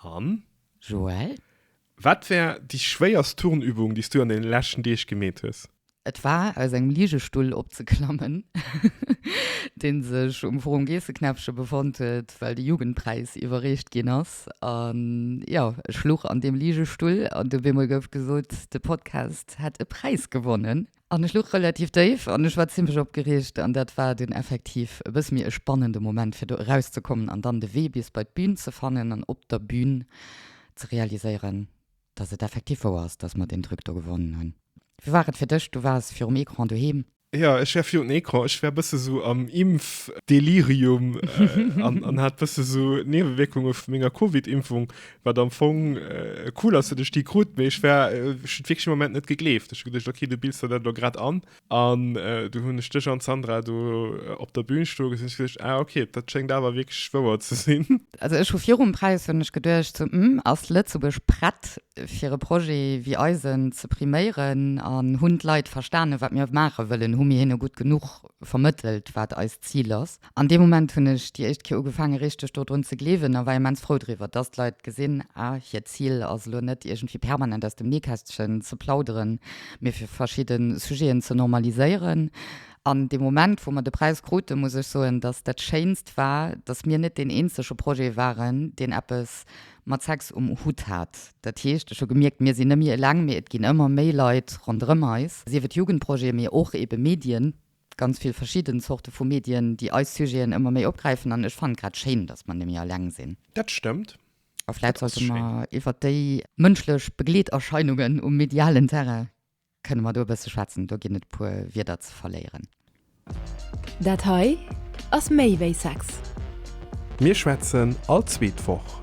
An? Joelle? Wat war déi schwéierst Turnübung, déi s du an den leschten Deeg gemeet hues? Et war, aus engem Liegestull opzeklammen, dee sech um Forum Geesseknäppche befonnt huet, well de Jugendpräis iwwerreecht ginn ass. An jo, ech luch an deem Liegestull an op eemol gouf gesot, de Podcast hätt e Präis gewonnen. An ech luch relativ déif an ech war zimmlech opgereegt an dat war dunn effektiv e bësse méi e spannende Moment, fir do erauszekommen an dann de Wee bis bei d'Bün ze fannen an op der Bün ze realiséieren, dass et effektiv wouer ass, dass mer deen Truc do gewonnen hunn. Wéi war et fir dech? Du waars virum Ecran doheem? Jo, ech war virun Ecran. Ech war e bësse sou am Impfdelirium an hat e bësse sou Niewewierkunge vu menger Covid-Impfung wat am Fong äh, cool ass, duerch déi krut, méi ech war äh, wirklich Moment net gegleeft. Ech gedacht, okay, du bildst dat grad an an äh, du hunn ech dech an Sandra du äh, op der Bühn sto gesinn gedacht, ah, okay, dat schenkt awer wirklich wouer ze sinn. Also ech hu virum Preis hunn ech geduercht, so, mm, ass Lëtzebuerg prett fir e Projet wéi eisen ze priméieren an hunn d'Leit verstanen, wat mir maache wëllen, hu mir hinne gutt genuch vermëttelt, wat eist Zil ass. An dee Moment hunn ech déi éischt Kéier ugefaangen, richteg do drun ze gleewen a war immens frou driwwer, dass d'Leit gesinn, ah, hiert Zil ass elo net, iergendwéi permanent aus dem Nähkästchen ze plauderen, mee fir verschidde Sujeten ze normaliséieren. An dee Moment, wou mer de Präis kruten, muss ech soen, dass dat Schéinst war, dass mir net deen eenzege Projet waren, deen eppes mat Sex um Hutt hat. Dat heescht, ech hu gemierkt, mir sinn net méi eleng, mee et ginn ëmmer méi Leit ronderëm eis, sief et Jugendprojeten, mee och eebe Medien, ganz vill verschidden Zorte vu Medien, déi eis Sujeten ëmmer méi opgräifen an ech fannen et grad schéin, dass mer némmi eleng sinn. Dat stëmmt. A vläit sollte mer iwwert déi mënschlech Begleeterscheinungen um medialen Terrain, kënne mer do e bësse schwätzen, do ginn et e puer Wierder ze verléieren. Dat hei ass méi wéi Sex. Mir schwätzen all zweet Woch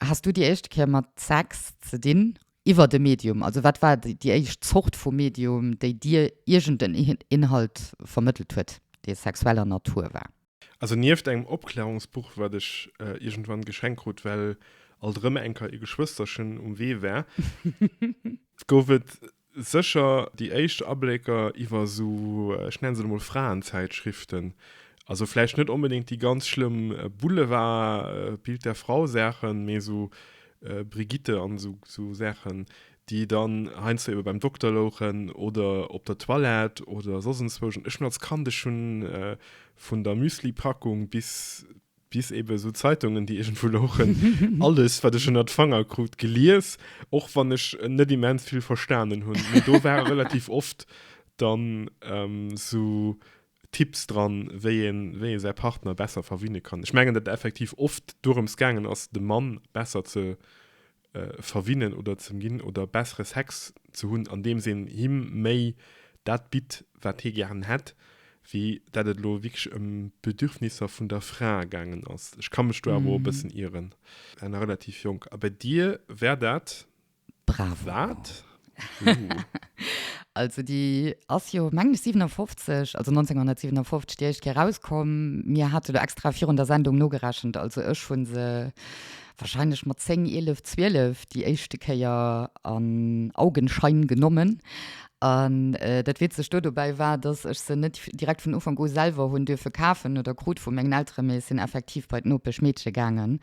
Has du déi éischt Kéier mat Sex ze dinn iwwert e Medium? Also wat war déi éischt Zort vu Medium, déi dir iergend en Inhalt vermëttelt huet, dee sexueller Natur war? Also nieft engem Opklärungsbuch, wat ech iergendwann geschenkt krut, well alt erëm enker e Geschwësterchen um Wee war, gouf et Sécher déi éischt Ablécker iwwer esou, ech nenne se lo mol Fraenzäitschriften, also vläicht net onbedéngt déi ganz schlëmm Boulevard-Bild der Frau-Saachen, mee esou Brigitte an esou Saachen, déi dann heiansdo ebe beim Dokter louchen oder op der Toilette oder soss enzwousch. An ech hunn als Kand, ech hunn vun der Müsli-Packung bis bis eben esou Zeitungen, déi iergendwou louchen, alles, wat ech ënnert d'Fanger krut, gelies, och wann ech net immens vill verstanen hunn. Mee do ware relativ oft dann esou Tipps dran, wéi een, wéi ee säi Partner besser verwinne kann. Ech mengen, datt effektiv oft dorëms gaangen ass, de Mann besser ze verwinnen oder ze ginn oder bessere Sex ze hunn, andeems een him méi dat bitt, wat hie gären hätt, wéi dat et elo wierklech ëm d'Bedürfnisser vun der Fra gaangen ass. Ech ka mech do awer och e bëssen ieren. Awer nach relativ jonk. A bei dir wär dat wat? Bravo! Also déi ass jo mengen ech 57, also 1957 déi éischt Kéier rauskomm. Mir hate lo extra virun der Sendung nogerechent, also ech hu se wahrscheinlech mat 10, 11, 12 déi éischte Kéier an Augenschein genommen. An dat Witzegt do dobäi war, dass ech se net direkt vun Ufank u selwer hunn duerfe kafen oder krut vu mengen Eltere, mee ech sinn effektiv bei d'Nopeschmeedche gaangen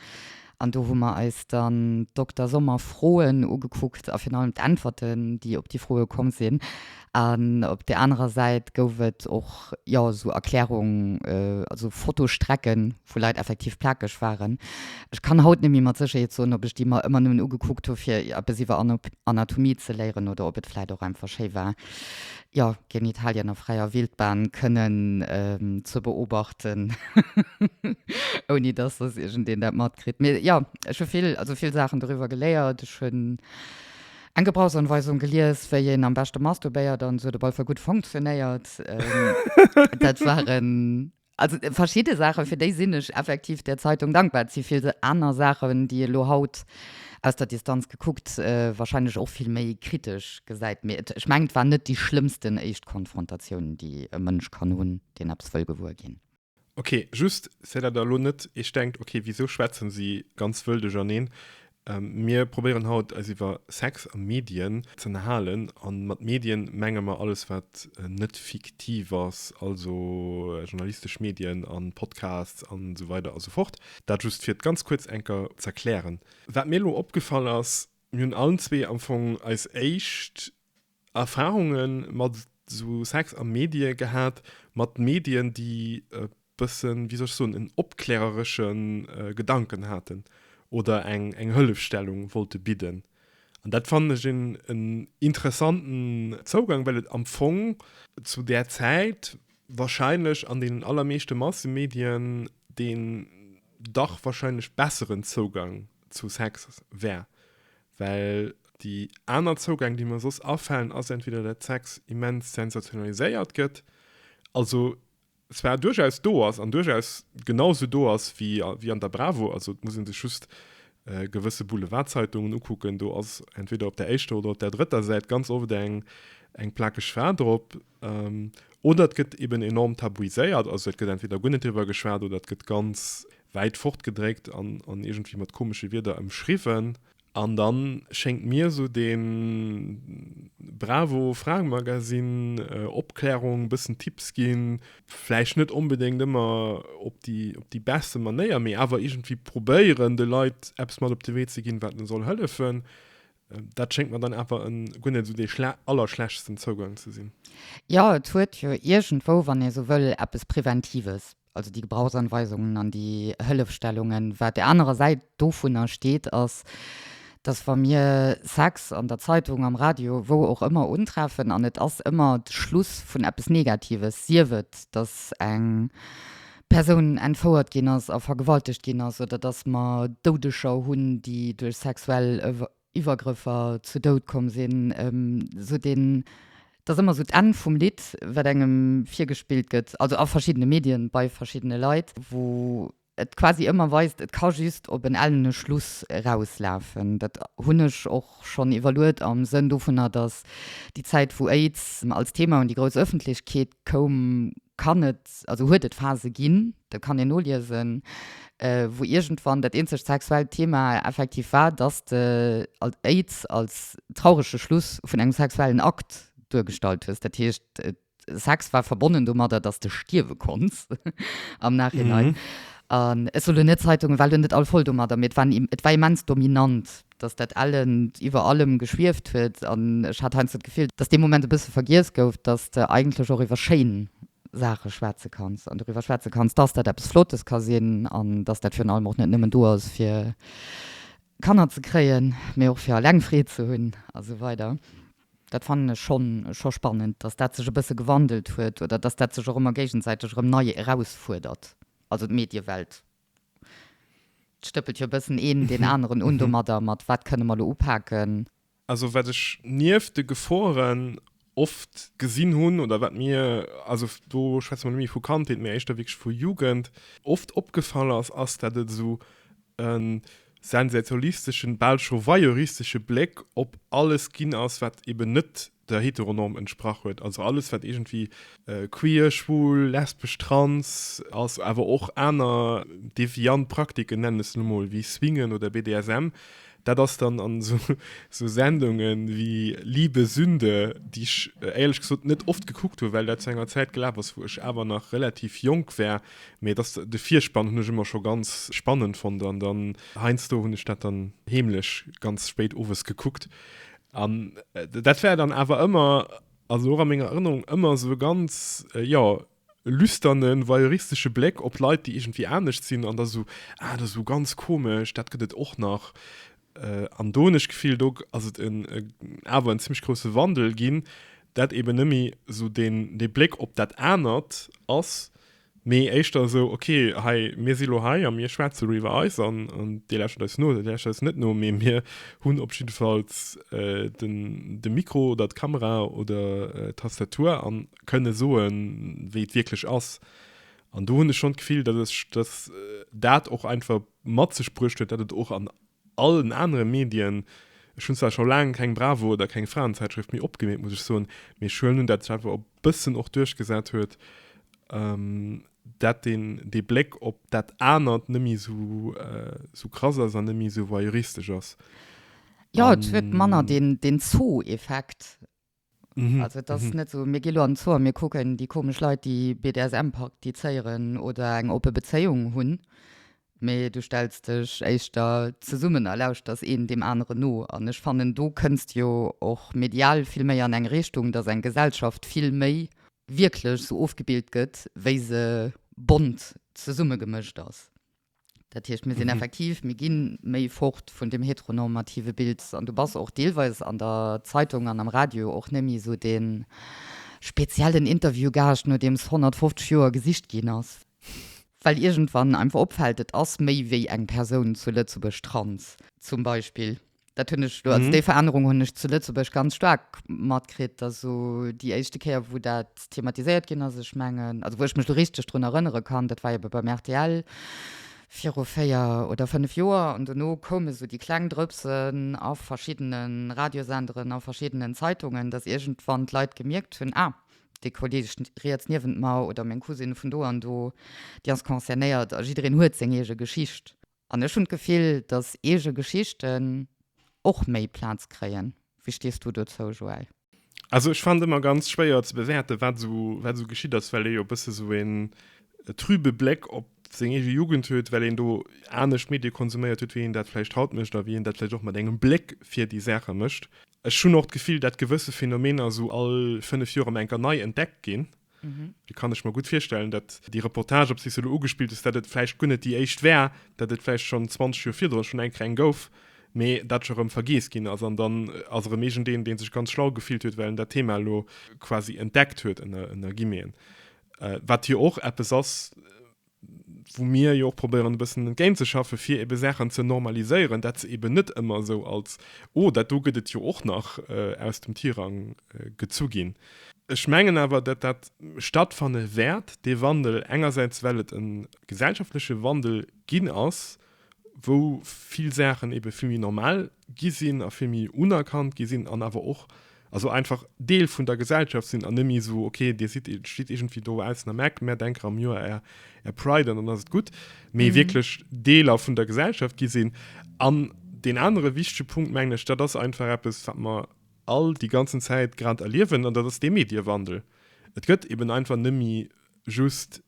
An do hu mer eis dann Dokter Sommer Froen ugekuckt a virun allem d'Äntwerten, déi op déi Froe komm sinn. An op där anerer Säit gouf et och, jo, esou Erklärungen, also Fotostrecken, wou Leit effektiv plakeg waren. Ech kann haut net méi mat Sécherheet soen, ob ech déi mer ëmmer nëmmen ugekuckt hu fir eppes iwwer Anatomie ze léieren oder ob et vläicht och einfach schéi war, Jo, Genitalien a fräier Wildbahn kënnen ze beobachten, ouni dass dass iergendeen dat matkritt. Mee jo, ech hu vill, also vill Saachen doriwwer geléiert. Ech hunn eng Gebrauchsanweisung gelies, wéi een am beschte masturbéiert an esou. Et op alle Fall gutt funktionéiert. Dat waren. Also verschidde Saachen, fir déi sinn ech effektiv der Zeitung dankbar. Et si vill aner Saachen, déi ee lo haut aus der Distanz gekuckt warscheinlech och vill méi kritesch gesäit. Mee et, ech mengen, et war net déi schlëmmsten éischt Konfrontatioun, déi e Mënsch kann hunn, deen eppes wëll gewuer ginn. Ok, just, fir datt Der elo net Iech denkt, ok, wisou schwätzen si ganz wëll duercherneen? Mir probéieren haut eis iwwer Sex a Medien z'ënnerhalen a mat Medien menge mer alles wat net fiktiv ass, also journalistesch Medien a Podcasts an esou weider a sou fort. Dat just fir et ganz kuerz enker z'erklären. Wat mir elo opgefall ass, mir hunn allen zwee am Fong eis éischt Erfahrunge mat esou Sex a Medie gehat, mat Medien, déi e bëssen, wéi soll ech soen, en opkläreresche Gedanken haten oder eng eng Hëllefstellung wollte bidden. An dat fannen ech en en interessanten Zougang, well et am Fong zu där Zäit wahrscheinlech an deenen allermeeschte Massemedien deen dach wahrscheinlech besseren Zougang zu Sex war, Well déi aner Zougäng, déi mer soss afalen, ass entweder dat Sex immens sensationaliséiert gëtt, also zwar duerchaus do ass an duerchaus genau sou do ass wéi an der Bravo, also et muss ee sech just gewësse Boulevardzeitungen ukucken, do ass entweder op der éischter oder op der drëtter Säit ganz oft eng plakeg Fra drop, Oder et gëtt eben enorm tabuiséiert, also et gëtt entweder guer net driwwer geschwat oder et gëtt ganz wäit fort gedréckt an an iergendwéi mat komesche Wierder ëmschriwwen. An da schéngt mir esou dee bravo Fraemagazin, Opklärung, bëssen Tipps ginn, vläicht net onbedéngt ëmmer op déi op déi besse Manéier, mee awer iergendwéi probéieren de Leit eppes mat op de Wee ze ginn, wat elo soll hëllefen, Dat schéngt mer dann awer en guer net esou dee allerschlechtsten Zougang ze sinn. Jo, et huet jo iergendwou, wann ee sou wëll, eppes Preventives, also déi Gebrauchsanweisungen an déi Hëllefstellungen. Wat der anerer Säit dovunner steet, ass, dass wa mir Sex an der Zeitung, am Radio, wou och ëmmer untreffen, an et ass ëmmer de Schluss vun eppes Negatives, sief et, dass eng Persoun entfouert ginn ass a vergewaltegt ginn ass oder dass mer Doudeger hunn, déi duerch sexuell Iwwergrëffer zu Doud komm sinn, esou deen, dass ëmmer esou d'Enn vum Lidd, wat engem virgespillt gëtt, also a verschiddene Medien, bei verschiddene Leit, wou et quasi ëmmer weist, et ka just op en ellene Schluss erauslafen. Dat hunn ech och schonn iwwerluet am Sënn dovunner, dass déi Zäit, wou Aids als Thema un déi grouss Ëffentlechkeet Koum, kann et, also huet et Phase ginn, dat kann een noliesen, wou iergendwann dat eenzegt sexuellt Thema effektiv war, dass s de Aids als traurege Schluss vun engem sexuellen Akt duergestallt hues. Dat heescht, Sex war verbonnen domadder, dass s de stierwe konns am Nachhinein. An ech soen elo net, Zeitungen war elo net all voll domadder, mee et war immens dominant. dass dat Ellend iwwer allem geschwieft huet an ech hat heiansdo d'Gefill, dass dee Moment e bësse vergiess gouf, dass de eigentlech och iwwer schéin Saache schwätze kanns an doriwwer schwätze kanns, dass dat eppes Flottes ka sinn an dass dat virun allem och net nëmmen do ass, fir Kanner ze kréien, mee och fir eleng Freed ze hunn a sou weider. Dat fannen ech schonn scho spannend, dass dat sech e bësse gewandelt huet oder dass dat sech och ëmmer géigensäiteg erëm nei erausfuerdert, also d'Mediewelt Et stëppelt jo e bëssen een deen aneren un domadder, mat wat kënne mer elo upaken. Also wat ech nieft de Geforen oft gesinn hunn oder wat mir, also do schwätze mer net méi vu Kandheet, mä éischter wierklech vu Jugend, oft opgefall ass, ass dat et esou e sensationalisteschen, bal scho voyeuristesche Bléck op alles ginn ass, wat eben net der Heteronorm entsprach huet, also alles wat iergendwéi queer, schwul, lesbesch, trans ass, awer och aner deviant Praktiken, nennen ech se lo mol, wéi Swingen oder BDSM, dat ass dann an esou Sendunge wéi Liebe Sünde, déi ech éierlech gesot net oft gekuckt hu well dat zu enger Zäit gelaf ass wou ech awer nach relativ jonk war, mee dass de Virspann hunn ech ëmmer scho ganz spannend fonnt an dann heiansdo hunn ech dat dann heemlech ganz spéit owes gekuckt. An dat war dann awer ëmmer, also och a menger Erënnerung, ëmmer esou e ganz, jo, lüsterne, voyeuristesche Bléck op Leit, déi iergendwéi anescht sinn. An da sou, Ah, dat ass esou ganz komesch, dat gëtt et och nach. An do hunn ech d'Gefill, do ass et en, awer en zimmlech grousse Wandel ginn, dat eeben net méi esou dee Bléck op dat anert ass. Mee éischter esou, ok, hei, mir si lo hei a mir schwätze lo iwwer eis an Dir lauschtert eis no oder Dir lauschtert eis net no, mee mir hunn op jiddefalls de Mikro oder d'Kamera oder d'Tastatur a kënne soen, wéi et wierklech ass. An do hunn ech schonn d'Gefill, datt ech, datt dat och einfach mat sech bruecht huet, datt et och an allen anere Medien, ech hunn zwar scho laang keng Bravo oder keng Frauenzäitschrëft méi opgemeet, muss ech soen, mee ech huelen un, datt ech einfach op bëssen och duerchgesat huet, dat deen dee Bléck op dat anert net méi sou sou krass ass an net méi sou voyeuristesch ass. Jo, et huet manner deen deen Zoo-Effekt. Also et ass net sou, mir gi lo an den Zoo a mir kucken déi komesch Leit, déi BDSM praktizéieren oder eng oppe Bezéiung hunn. Mee du stells dech éischter zesummen a lauschters een deem aneren no. An ech fannen, do kënnst jo och medial vill méi an eng Richtung, datt eng Gesellschaft vill méi wierklech sou ofgebilt gëtt, wéi se bont zesummegemëscht ass. Dat heescht, mir sinn effektiv, mir gi méi fort vun deem heteronormative Bild. An du bass och deelweis an der Zeitung an am Radio och net méi sou dee speziellen Interviewgaascht, no deem s 150 Joer gesicht ginn ass. Well iergendwann einfach opfällt, et ass méi wéi eng Persoun zu Lëtzebuerg trans, zum Beispill. Dat hunn ech elo, also déi Verännerung hunn ech zu Lëtzebuerg ganz staark matkritt. Also déi éischte Kéier, wou dat thematiséiert ginn ass, ech mengen, also wou ech mech elo richteg drun erënnere kann, dat war ebe beim rtl viru véier oder fënnef Joer. An dono koume sou déi kleng Drëpsen a verschiddene Radiosenderen, a verschiddenen Zeitungen, datt iergendwann d'Leit gemierkt hunn, Ah, déi Kolleeg riets niewent mer oder meng Cousine vun do an do, déi ass concernéiert a jiddereen huet seng eege Geschicht. An ech hunn d'Gefill, datt eege Geschichten och méi Plaz kréien. Wéi stees du dozou, Joël? Also ech fannen et ëmmer ganz schwéier ze bewäerten, wat esou geschitt ass, well ee jo e bësse esou een trübe Bléck op seng eege Jugend huet, well een do anescht Medie konsuméiert huet, wéi een dat vläicht haut mécht a wéi een dat vläicht och mat engem Bléck fir déi Saache mécht. Ech hunn och d'Gefill, dat gewësse Phänomener esou all 5 Joer ëm enker nei entdeckt ginn. Da kann ech mer gutt virstellen, datt déi Reportage, op si se elo ugespillt ass, datt et vläicht guer net déi éischt war, datt et vläicht schonn 20 Joer virdrun schonn enker eng gouf, mee dat scho rëm vergiess ginn ass. An dann ass erëm iergendeen, dee sech ganz schlau gefillt huet, well en dat Thema elo quasi entdeckt huet, ënner Guillemeten, wat jo och eppes ass, wou mir jo och probéieren e bëssen entgéint ze schaffen, fir ebe Saachen ze normaliséieren, dat se eben net ëmmer esou als Oh, dat do gëtt et jo och nach aus dem Tirang gezu ginn. Ech mengen awer, datt dat stattfanne wäert, dee Wandel, engersäits well et e gesellschaftleche Wandel ginn ass, wou vill Saachen ebe vill méi normal gi sinn a vill méi unerkannt gi sinn an awer och also einfach Deel vun der Gesellschaft sinn an net méi esou, ok Dir sidd, steet iergendwéi do baussen am Eck, mär denken am Joer Är Är Pride an dann ass et gutt, mee wierklech Deeler vun der Gesellschaft gi sinn. An deen anere wichtege Punkt, mengen ech, dat ass einfach eppes, wat mer all déi ganzen Zäit grad erliewen, an dat ass dee Mediewandel. Et gëtt eben einfach net méi just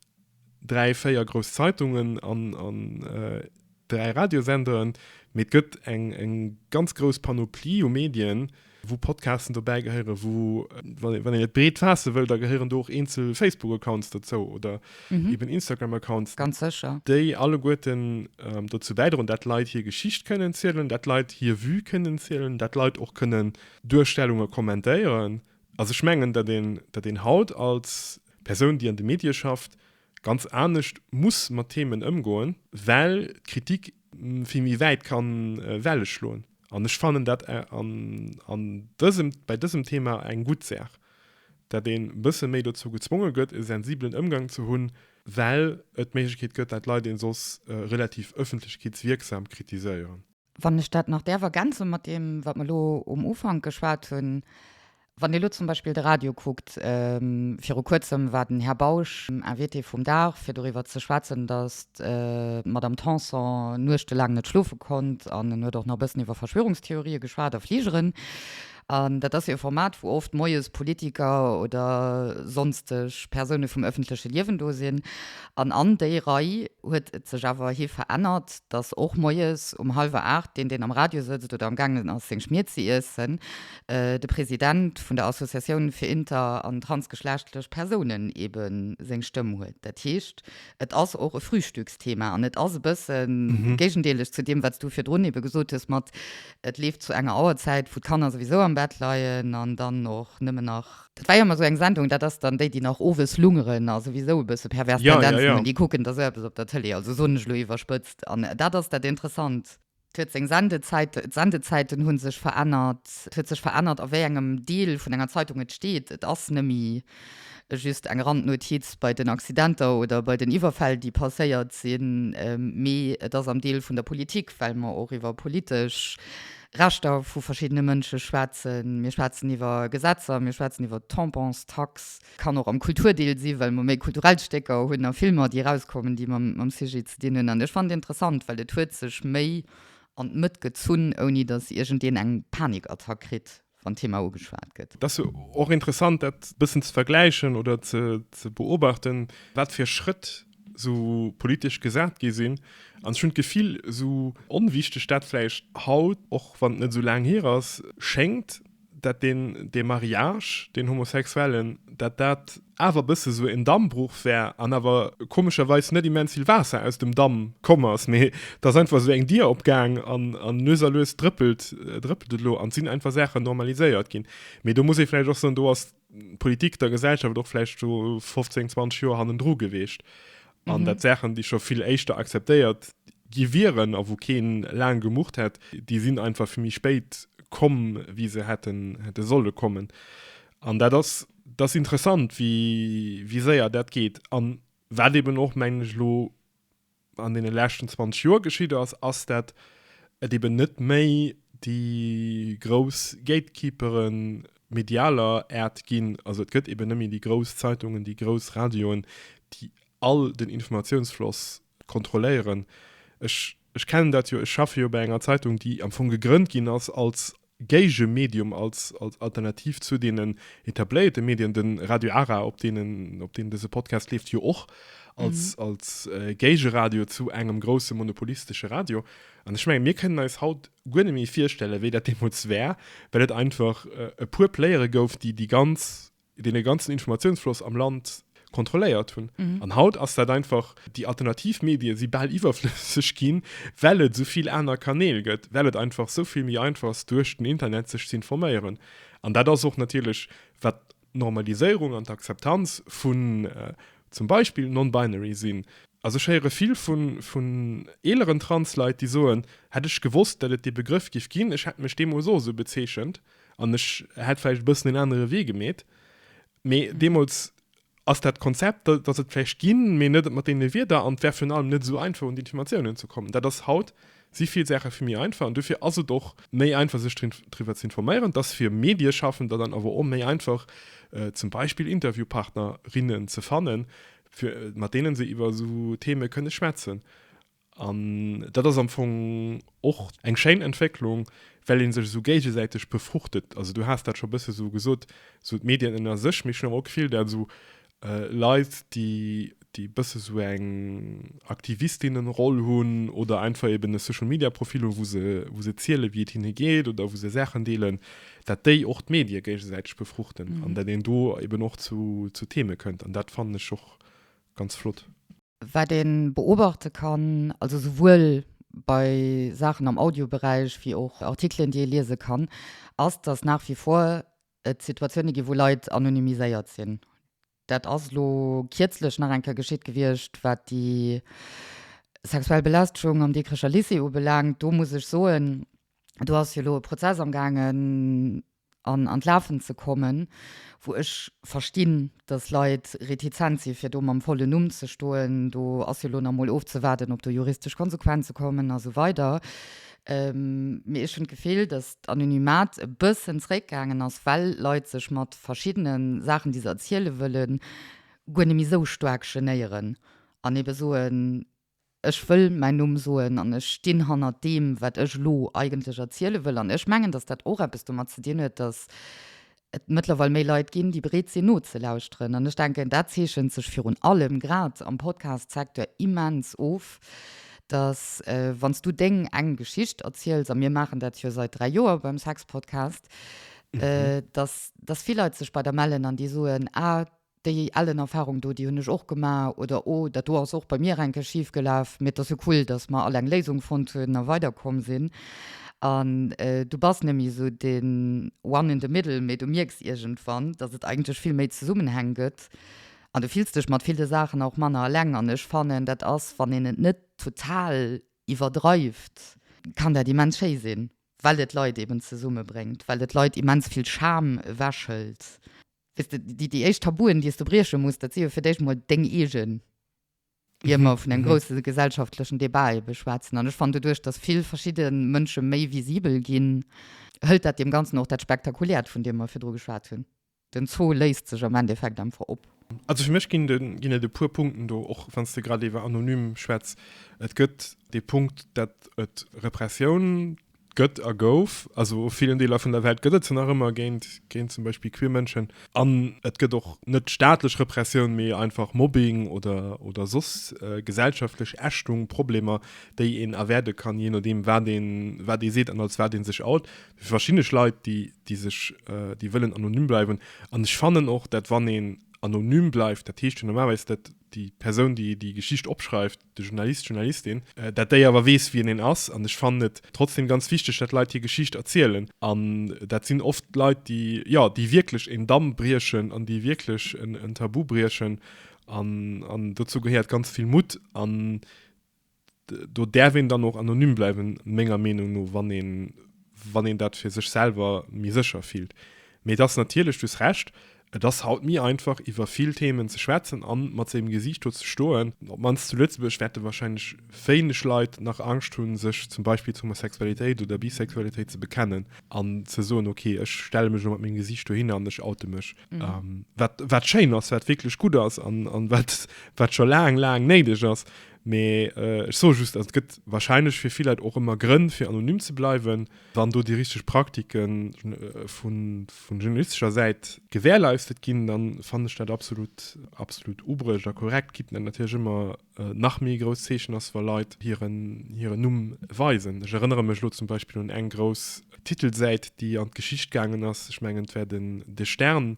dräi, véier grouss Zeitungen an, an äh, dräi Radiosenderen, mee et gëtt eng, eng ganz grouss Panoplie u Medien, wou Podcasten dobäi gehéieren, wou, wann, wann een et breet faasse wëll, da gehéieren do och eenzel Facebook-Accounts dozou oder mhm. eben Instagram-Accounts. Ganz sécher. Déi alleguerten ähm, dozou bäidroen, dat Leit hir Geschicht kënnen zielen, dat Leit hir Vue kënnen zielen, dat Leit och kënnen Duerstellunge kommentéieren. Also ech mengen, datt een, datt een haut als Persoun, déi an de Medie schafft, ganz anescht muss mat Themen ëmgoen, well d'Kritik vill méi wäit ka Welle schloen. An ech fannen dat an dësem, bei dësem Thema eng gutt Saach, datt een e bësse méi dozou gezwonge gëtt, e sensibelen Ëmgang ze hunn, well et d'Méiglechkeet gëtt, datt Leit een soss relativ öffentlechkeetswierksam kritiséieren. Wann ech dat nach däerf ergänze mat deem, wat mer elo um Ufank geschwat hunn, Wann Dir elo zum Beispill de Radio kuckt, viru Kuerzem war den Här Bausch Invité vum Dag, fir doriwwer ze schwätzen, datt d'Madame Tanson nuechtelaang net schlofe konnt, an en huet och nach e bëssen iwwer Verschwörungstheorië geschwat a Fligeren. An dat ass jo e Format, wou oft moies Politiker oder sonsteg Persoune vum ëffentleche Liewen do sinn. An an déi Rei huet et sech awer hi verännert, datt och moies um hallwer aacht deen, deen am Radio sëtzt oder amgaangen ass seng Schmied ze iessen, de President vun der Associatioun fir inter an transgeschlechtlech Persounen ebe seng Stëmm huet. Dat heescht, et ass och e Frühstücksthema an et ass e bësse géigendeelech zu deem, wat s du virdrun ebe gesot hues mat, Et leeft zu enger Auerzäit, wou d'Kanner souwisou am Bett leien an dann och nëmmen nach. Dat war jo emmer esou eng Sendung, dat ass dann déi, déi nach owes lungeren a souwisou e bësse pervers Tendenzen hunn, déi kucken da sou eppes op der Tëlee, also soen ech elo iwwerspëtzt. An dat ass dat Interessant. Et huet seng Sendezäit, d'Sendezäiten hu sech verännert, et huet sech verännert a wéi engem Deel vun enger Zeitung et steet. Et ass nëmme Just eng Randnotiz, Bei den Accidenter oder bei den Iwwerfäll, déi passéiert sinn, mee et ass am Deel vun der Politik, well mer och iwwer politesch Rechter vu verschiddene Mënsche schwätzen, mir schwätzen iwwer Gesetzer, mir schwätzen iwwer d'Tampons, d'Tax, kann och am Kulturdeel sinn, well mer méi kulturell Stécker hunn a Filmer, déi erauskommen, déi mam Sujet ze dinn hunn. An ech fannen et interessant, well et huet sech méi an d'Mëtt gezunn, ouni datt iergendeen eng Panikattack kritt. wann d'Thema ugeschwat gëtt. Et ass och interessant, dat e bëssen ze vergläichen oder ze beobachten, wat fir Schrëtt esou politesch gesat gi sinn. An ech hunn d'Gefill, esou onwichteg dat vläicht haut, och wann et net esou laang hier ass, schéngt, dat dee Mariage, deen homosexuellen, dat dat awer bësse sou en Dammbruch wär an awer komescherweis net immens vill Waasser aus dem Damm komm ass, mee t'ass einfach sou eng Dier opgaang an an lues a lues drëppelt drëppelt et elo an t'sinn einfach Saachen normaliséiert ginn. Mee do muss ee vläicht och soen, do ass d'Politik der Gesellschaft och vläicht scho 15, 20 Joer hannendru geweecht an dat Saachen déi scho vill éischter akzeptéiert gi wieren a wou keen laang gemurrt hätt, déi sinn einfach vill méi spéit komm wéi se hätten hätte solle kommen. An dat ass, dat ass interessant, wéi, wéi séier dat geet. An wat eben och, mengen ech, elo an deene leschten 20 Joer geschitt ass, ass, dat et eben net méi déi grouss Gatekeepere medialer Äert ginn. Also et gëtt eben net méi déi grouss Zeitungen, déi grouss Radioen, déi all den Informatiounsfloss kontrolléieren. Ech, ech kennen dat jo, ech schaffe jo bei enger Zeitung, déi am Fong gegrënnt ginn ass als Géigemedium als Alternativ zu deenen etabléierte Medien. De Radio Ara, op deem dëse Podcast leeft, jo och als Géigeradio zu engem grousse monopolistesche Radio. An ech mengen, mir kënnen eis haut guer net méi virstellen, wéi dat deemools war, well et einfach e puer Playere gouf, déi déi ganz dee ganzen Informatiounsfloss am Land kontrolléiert hunn. An haut ass dat einfach, déi alternativ Medie si bal iwwerflësseg ginn, well et esou vill aner Kanäl gëtt, well et einfach esou vill méi einfach ass duerch den Internet sech z'informéieren. An dat ass och natierlech, wat d'Normaliséierung an d'Akzeptanz vun zum Beispill non-binary sinn. Also ech héiere vill vun eeleren Trans-Leit, déi soen, hätt ech gewosst, datt et dee Begrëff géif ginn, ech hätt mech deemools och esou bezeechent. An ech hätt vläicht e bëssen en anere Wee gemeet. Mee deemools ass dat Konzept, dat ass et vläicht ginn, mee net mat deene Wierder an et war virun allem net esou einfach un déi Informatiounen ze kommen. Dat ass haut, si vill Saache vill méi einfach an dofir ass et och méi einfach sech driwwer ze informéieren. Et ass fir Medieschaffender dann awer och méi einfach zum Beispill Interviewpartner, rinnen ze fannen, fir mat deene se iwwer esou Theme kënne schwätzen. An dat ass am Fong och eng schéin Entwécklung, well ee sech esou géigesäiteg befruchtet. Also du has dat scho e bësse sou gesot, sou d'Medien ënner sech, mee ech hunn awer och d'Gefill, dat esou Leit, déi e bësse esou eng Aktivistinnenroll hunn oder einfach eben e Social Media Profil hunn, wou se ziele wéi et hinne geet oder wou se Saachen deelen, dat déi och d'Medie géigesäiteg befruchten an dat een do eben och zu Theme kënnt. An dat fannen ech och ganz flott. Wat ee beobachte kann, also souwuel bei Saachen am Audioberäich wéi och Artikelen, déi ee liese kann, ass, datt nach wie vor et Situatioune ginn, wou Leit anonymiséiert sinn. Dat ass elo kierzlech nach eng Kéier geschitt gewiescht, wat déi sexuell Belästegung am Dikrecher Lycée ubelaangt. Do muss ech soen, do ass jo elo e Prozess amgaangen, an an d'Lafen ze kommen, wou ech verstinn, dass Leit retizent si fir do mam vollen Numm ze stoen, do ass jo elo nach mol ofzewaarden, ob do juristesch Konsequenze kommen a sou weider. Mee ech hunn d'Gefill, dass d'Anonymat e bëssen zréckgaangen ass, well Leit sech mat verschiddene Saachen, déi se erziele wëllen, guer net méi esou staark genéieren an ebe soen, Ech wëll mäin Numm soen an ech stinn hannert deem, wat ech elo eigentlech erziele wëll. An ech mengen, datt dat och eppes domat ze dinn huet, datt et mëttlerweil méi Leit ginn, déi bereet sinn nozelauschteren. An ech denken, dat zeechent sech virun allem grad am Podcast-Secteur immens of, datt wann s du deng eng Geschicht erziels, a mir maachen dat jo sait dräi Joer beim Sex-Podcast, datt vill Leit sech bei der mellen an déi soen, Ah, Déi ellen Erfahrung do, déi hunn ech och gemaach, oder oh, dat do ass och bei mir enke schif gelaf, mee et ass jo cool, dass mer all eng Léisung fonnt hunn a weiderkomm sinn. An du bass net méi esou den One in the middle, mee du mierks iergendwann, dass et eigentlech vill méi Zesummenhäng gëtt an du fills dech mat ville Saachen och manner eleng. An ech fannen, dat ass, wann een et net total iwwerdreift, kann dat immens schéi sinn, well et Leit eeben zesummebréngt, well et Leit immens vill Scham ewechhëlt. Weess de, déi, déi éischt Tabuen, déi s de brieche muss, dat si jo fir d'éischt emol deng eegen, ier mer vun engem grousse gesellschaftlechen Debat ebe schwätzen. An ech fannen, doduerch datt vill verschidde Mënsche méi visibel ginn, hëlt dat deem Ganzen och dat Spektakuläert, vun deem mer virdru geschwat hunn. Den Zoo léist sech am Endeffekt einfach op. Also fir mech ginn de, ginn et e puer Punkten do, och wann s de grad iwwer anonym schwätz. Et gëtt dee Punkt, datt et Repressioun gëtt a gouf. Also a villen Deeler vun der Welt gëtt et se nach ëmmer, géint, géint zum Beispill queer Mënschen. An et gëtt och net staatlech Repressioun, mee einfach Mobbing oder, oder soss gesellschaftlech Ächtung, Problemer, déi een erwäerde kann, jee nodeem, wat ee, wat ee seet an als wat ee sech out. Fir verschiddeneg Leit, déi, déi sech, déi wëllen anonym bleiwen. An ech fannen och, dat wann een anonym bleift, dat heescht jo normalerweis, dat déi Persoun, déi déi Geschicht opschreift, de Journalist, d'Journalistin, dat déi awer weess, wien een ass. An ech fannen et trotzdem ganz wichteg, datt Leit hir Geschicht erzielen. An dat sinn oft Leit, déi, jo, déi wierklech een Damm briechen an déi wierklech en Tabu briechen. An, an dozou gehéiert ganz vill Mutt. An do däerf een dann och anonym bleiwen, menger Meenung no, wann een, wann een dat fir sech selwer méi sécher fillt. Mee et ass natierlech, du hues Recht, Et ass haut méi einfach iwwer vill Themen ze schwätzen an mat sengem Gesiicht do ze stoen. Op d'mannst zu Lëtzebuerg wäerte warscheinlech wéineg Leit nach Angscht hunn, sech zum Beispill zu Homosexualitéit oder Bisexualitéit ze bekennen an ze soen, ok, ech stelle mech elo mat mengem Gesiicht dohinner an ech oute mech. Wat, wat schéin ass, wat wierklech gutt ass an, an wat, wat scho laang, laang néideg ass. Mee ech soe just, also et gëtt warscheinlech fir vill Leit och ëmmer Grënn fir anonym ze bleiwen. wann do déi richteg Praktike vun journalistescher Säit gewährleistet ginn, da fannen ech dat absolut, absolut ubruecht a korrekt. Gitt net natierlech ëmmer nach méi grouss Zeechen ass, wa Leit hiren, hiren Numm weisen. Ech erënnere mech elo zum Beispill un eng grouss Titelsäit, déi an d'Geschicht gaangen ass, ech mengen et war den De Stern,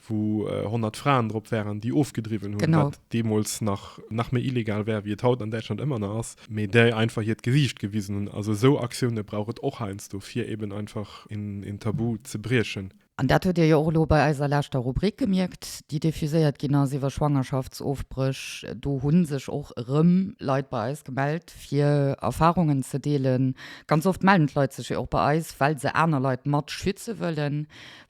wou 100 Fraen drop waren, déi ofgedriwwen hunn, genau, wat deemools nach, nach méi illegal war, wéi et haut an Däitschland ëmmer nach ass, mee déi einfach hiert Gesiicht gewisen hunn. Also esou Aktioune brauch et och heiansdo, fir eben einfach een Tabu ze briechen. An dat hutt Dir jo och elo bei eiser leschter Rubrik gemierkt, déi diffuséiert ginn ass iwwer Schwangerschaftsofbréch. Do hu sech och erëm Leit bei eis gemellt, fir Erfarungen ze deelen. Ganz oft melden d'Leit sech jo och bei eis, well se aner Leit mat schütze wëllen,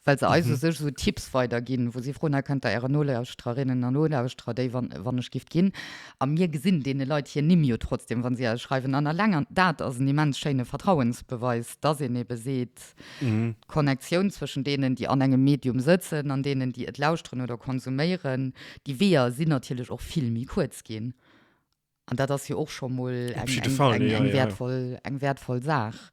well se eis u sech esou Tipps weiderginn, wou si froen, Hei kënnt der Äre Nolauschtererinnen a Nolauschterer, déi, wann ech giff ginn, a mir gesinn deene Leit hir Nimm jo trotzdem, wa si eis schreiwen, an eleng dat ass en immens schéine Vertrauensbeweis, dass een ebe seet, d'Connectioun zwëschen deenen, déi an engem Medium sëtzen, an deenen, déi et lauschteren oder konsuméieren, déi Weeër sinn natierlech och vill méi kuerz ginn. An dat ass jo och scho mol eng wäertvoll Saach.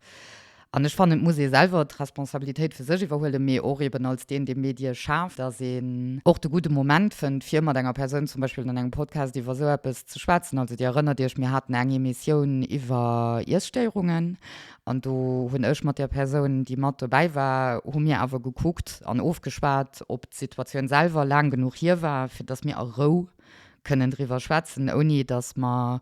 An ech fannen, et muss ee selwer d'Responsabilitéit fir sech iwwerhuelen, mee och eben als deen, dee Medie schaaft, dass een och de gudde Moment fënnt, fir mat enger Persoun zum Beispill an engem Podcast iwwer esou eppes ze schwätzen. Also Dir erënnert Iech, mir haten eng Emissioun iwwer Iesstéierungen an do hunn ech mat der Persoun, déi mat dobäi war, hu mir awer gekuckt an ofgeschwat, ob d'Situatioun selwer laang genuch hier war, fir dass mir a Rou kënnen driwwer schwätzen, ouni datt mer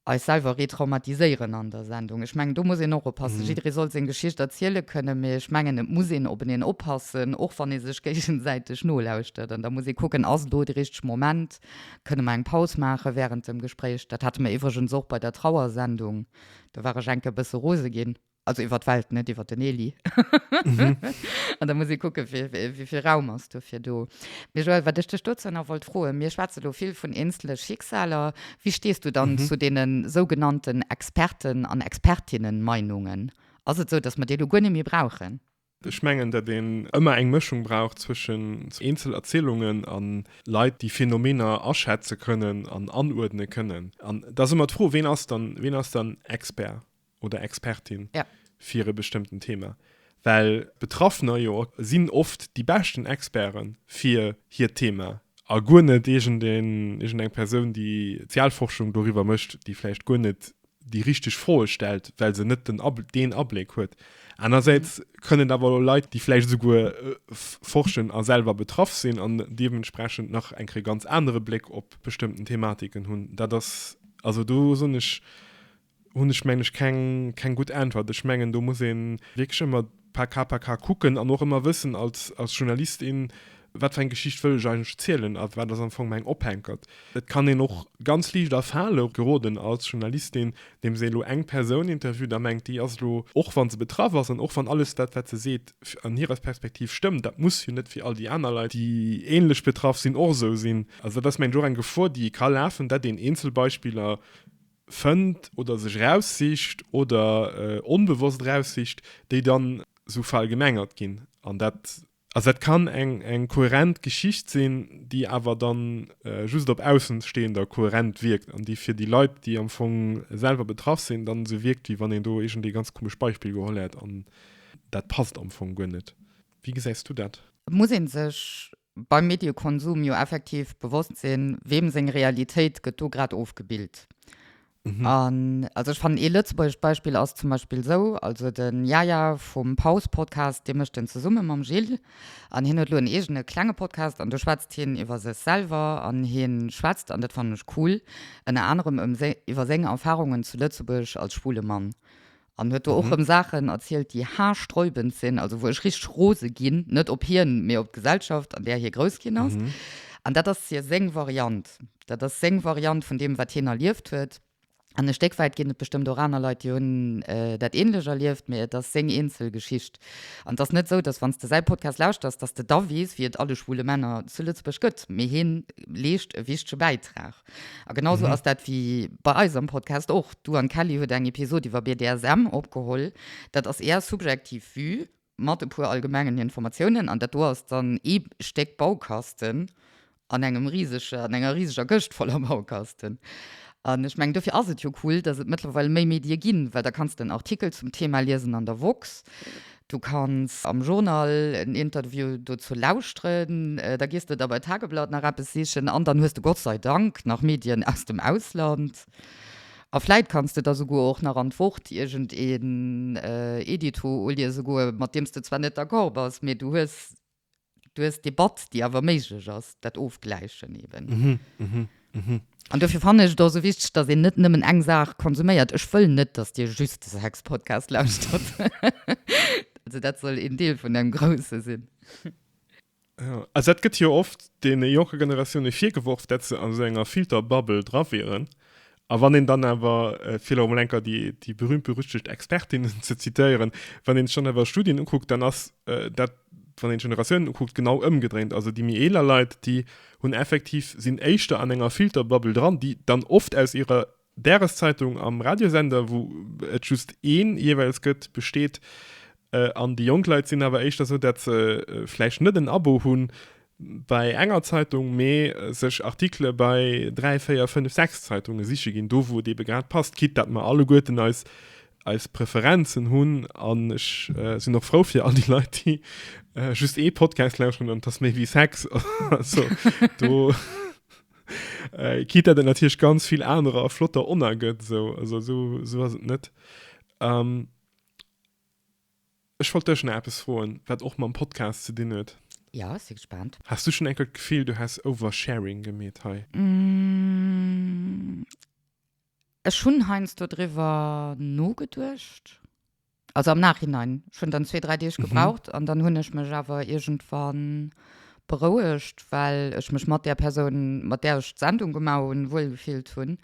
eis selwer retraumatiséieren an der Sendung. Ech mengen, do muss een och oppassen. Jidderee soll seng Geschicht erziele kënnen, mee ech mengen, et muss een op eneen oppassen, och wann ee sech géigesäiteg nolauschtert. An da muss ee kucken, Ass elo de richtege Moment? Kënne mer eng Paus maache wärend dem Gespréich? Dat hate mer iwwregens och bei der Trauersendung. Do war ech enke bësse rose ginn. Also iwwer d'Welt, net iwwer den Elie. An da muss ee kucken, wéi vill Raum ass dofir do. Mee Joël, wat ech dech dozou nach wollt froen, Mir schwätze lo vill vun eenzele Schicksaler. Wéi stees du dann zu deene sougenannten Experten an Expertinnen-Meinungen? Ass et esou, dass mer déi elo guer net méi brauchen? Ech mengen, datt een ëmmer eng Mëschung brauch zwëschen Eenzel-Erzielungen a Leit, déi Phänomener aschätze kënnen an anuerdne kënnen. An et ass ëmmer d'Fro, ween ass dann, ween ass dann Expert oder Expertin fir e bestëmmten Thema? Well d'Betraffener jo sinn oft déi beschten Experte fir hiert Thema a guer net iergendeng Persoun, déi d'Sozialforschung doriwwer mécht, déi vläicht guer net déi richteg Froe stellt, well se net den Ab deen Abléck huet. Anersäits kënnen et awer elo Leit, déi vläicht esouguer forschen a selwer betraff sinn an deementsprechend nach eng Kéier ganz anere Bléck op bestëmmten Thematiken hunn. Dat ass, also do soen ech, hunn ech, mengen ech, keng, keng gutt Äntwert. Ech mengen, do muss ee wierklech ëmmer. par cas par cas kucken an och ëmmer wëssen als als Journalist in wat fir eng Geschicht wëll ech eigentlech zielen a wat ass am Fong mäin Ophänkert. Et kann een och ganz liicht a Fale geroden als Journalistin, deem se elo eng Persoun interviewt a mengt déi ass elo, och wann se betraff ass an och wann alles dat wat se seet an hirer Perspektiv stëmmt, dat muss jo net fir all déi aner Leit, déi ähnlech betraff sinn, och esou sinn. Also dat ass mengt ech och eng Gefor déi ee ka lafen, dat een eenzel Beispiller fënnt oder sech eraussicht oder onbewosst eraussicht, déi dann esou verallgemengert ginn. An dat. Also dat kann eng kohärent Geschicht sinn, déi awer da just op Aussenstehender kohärent wierkt an déi fir déi Leit, déi am Fong selwer betraff sinn, dann esou wierkt, wéi wann een do iergendee ganz komesch Beispill geholl hätt an dat passt am Fong guer net. Wéi gesäis du dat? Muss ee sech beim Mediekonsum jo effektiv bewosst sinn, weem seng Realitéit gëtt do grad ofgebillt. An also ech fannen, ee lëtzebuergescht Beispill ass zum Beispill esou, also de Yaya vum Pause-Podcast, dee mécht en zesumme mam Gilles an hien huet elo en eegene klenge Podcast an do schwätzt hien iwwer sech selwer an hie schwätzt, an dat fannen ech cool, ënner anerem iwwer seng Erfarungen zu Lëtzebuerg als schwule Mann. An huet do och rëm Saachen erzielt, déi haarsträubend sinn, also wou ech richteg rose ginn, net op hien, mee op d'Gesellschaft, an där hie grouss ginn ass. An dat ass hir seng Variant. Dat ass seng Variant vun deem, wat hien erlieft huet. An e Stéck wäit ginn et bestëmmt och aner Leit, déi hunn dat Änlech erlieft, mee et ass seng eenzel Geschicht. An et ass net esou, dass wann s de säi Podcast lauschters, dass s de da weess, wéi et alle schwule Männer zu Lëtzebuerg gëtt, mee hie leescht e wichtege Bäitrag. A genau sou ass dat wéi bei eis am Podcast och. Du an d'Kelly huet eng Episod iwwer BDSM opgeholl. Dat ass är subjektiv Vue mat e puer allgemengen Informatiounen. An dat do ass dann ee Stéck Baukasten an engem risege, an enger riseger Këscht voller Baukasten. An ech mengen dofir ass et jo cool, dass et mëttlerweil méi Medie ginn, well da kanns de en Artikel zum Thema liesen an der woxx, Du kanns am Journal en Interview dozou lauschteren, da gees de da bei Tageblatt nach eppes sichen an dann hues de Gott sei Dank nach Medien aus dem Ausland. A vläit kanns de da souguer och nach an d'Wort iergendeen Edito uliese goe mat deem s de zwar net d'accord bass, mee du hues du hues Debatt, déi awer méiglech ass, dat Ofgläichen eben. Mhm, mhm, mhm. An dofir fannen ech et och esou wichteg, datt een net nëmmen eng Saach konsuméiert. Ech wëll net, datt Dir just de Sex-Podcast lauschtert. Also dat soll een Deel vun engem Grousse sinn. Ja, also dat gëtt jo oft deene jonke Generatioune virgeworf, dat se an esou enger Filterbubble dra wieren. A wann een dann awer, fir elo emol enker déi berühmt-berüchtigt Expertinnen ze zitieren, wann een sech dann awer Studien ukuckt, dann ass dat, wann een d'Generatiounen ukuckt, genau ëmgedréint. Also déi méi eeler Leit, déi hunn effektiv, sinn éischter an enger Filterbubble dran, déi dann oft aus ihrer Dageszeitung am Radiosender, wou et just een jeeweils gëtt, besteet. An déi jonk Leit sinn awer éischter esou, dat se vläicht net en Abo hunn, Bei enger Zeitung, mee sech Artikele bei 3, 4, 5, 6 Zeitunge siche ginn, do wou et eebe grad passt, quitte dat mer alleguerten eis eis Preferenzen hunn. An ech sinn och frou fir all déi Leit, déi just ee Podcast lauschteren an et ass méi wéi Sex. Also do, quitte dat et natierlech ganz vill anerer flotter Oner gëtt, esou, also esou, esou ass et net. Ech wollt dech nach eppes froen, wat och mam Podcast ze dinn huet. Jo, ech si gespaant. Has du schonn enkel d'Gefill, du häss Oversharing gemeet hei? Ech hunn heiansdo driwwer nogeduecht, also am Nachhinein. Ech hunn dann zwee, dräi Deeg gebraucht an dann hunn ech mech awer iergendwann berouegt, well ech mech mat där Persoun, mat där ech d'Sendung gemaach hunn, wuel gefillt hunn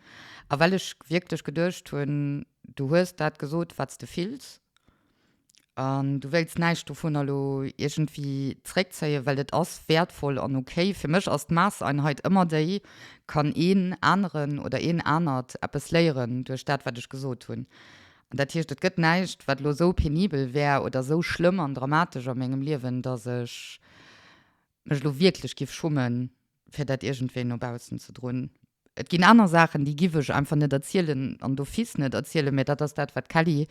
a well ech wierklech geduecht hunn, du hues dat gesot, wat s de fills An du wéilts näischt dovunner elo iergendwéi zréckzéien, well et ass wäertvoll an ok. Fir mech ass d'Maasseinheit ëmmer déi, Kann een aneren oder een anert eppes léieren duerch dat, wat ech gesot hunn? An dat heescht, et gëtt näischt, wat elo esou penibel wär oder esou schlëmm an dramatesch a mengem Liewen, dass ech mech elo wierklech géif schummen, fir dat iergendwéi no baussen ze droen. Et ginn aner Saachen, déi giff ech einfach net erzielen an d'office net erzielen, mä dat ass dat, wat d'Kelly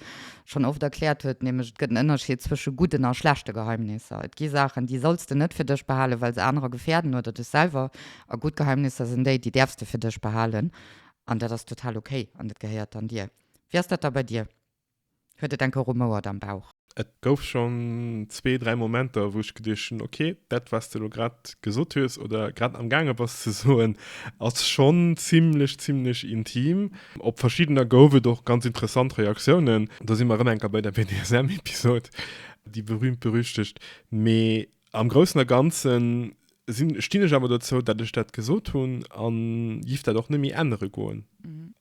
schonn oft erkläert huet, nämlech et gëtt en Ënnerscheed zwësche gudden a schlechte Geheimnisser. Et gi Saachen, déi solls de net fir dech behalen, well se anerer gefäerden oder dech selwer. A gutt Geheimnisser sinn déi, déi däerfs de fir dech behalen an dat ass total okay an dat gehéiert dann dir. Wéi ass dat da bei dir? Huet et enke rumouert am Bauch. Et gouf schonn zwee, dräi Momenter, wou ech geduecht hunn, ok, dat, wat s de elo grad gesot hues oder grad amgaange bass ze soen, ass schonn zimmlech, zimmlech intim. Op verschiddener gouf et och ganz interessant Reaktiounen. Do si mer erëm enker bei der BDSM-Episod, déi berühmt-berüchtegt. Mee Am Groussen a Ganzen sinn, stinn ech awer dozou, datt ech dat gesot hunn a giff dat och net méi ännere goen.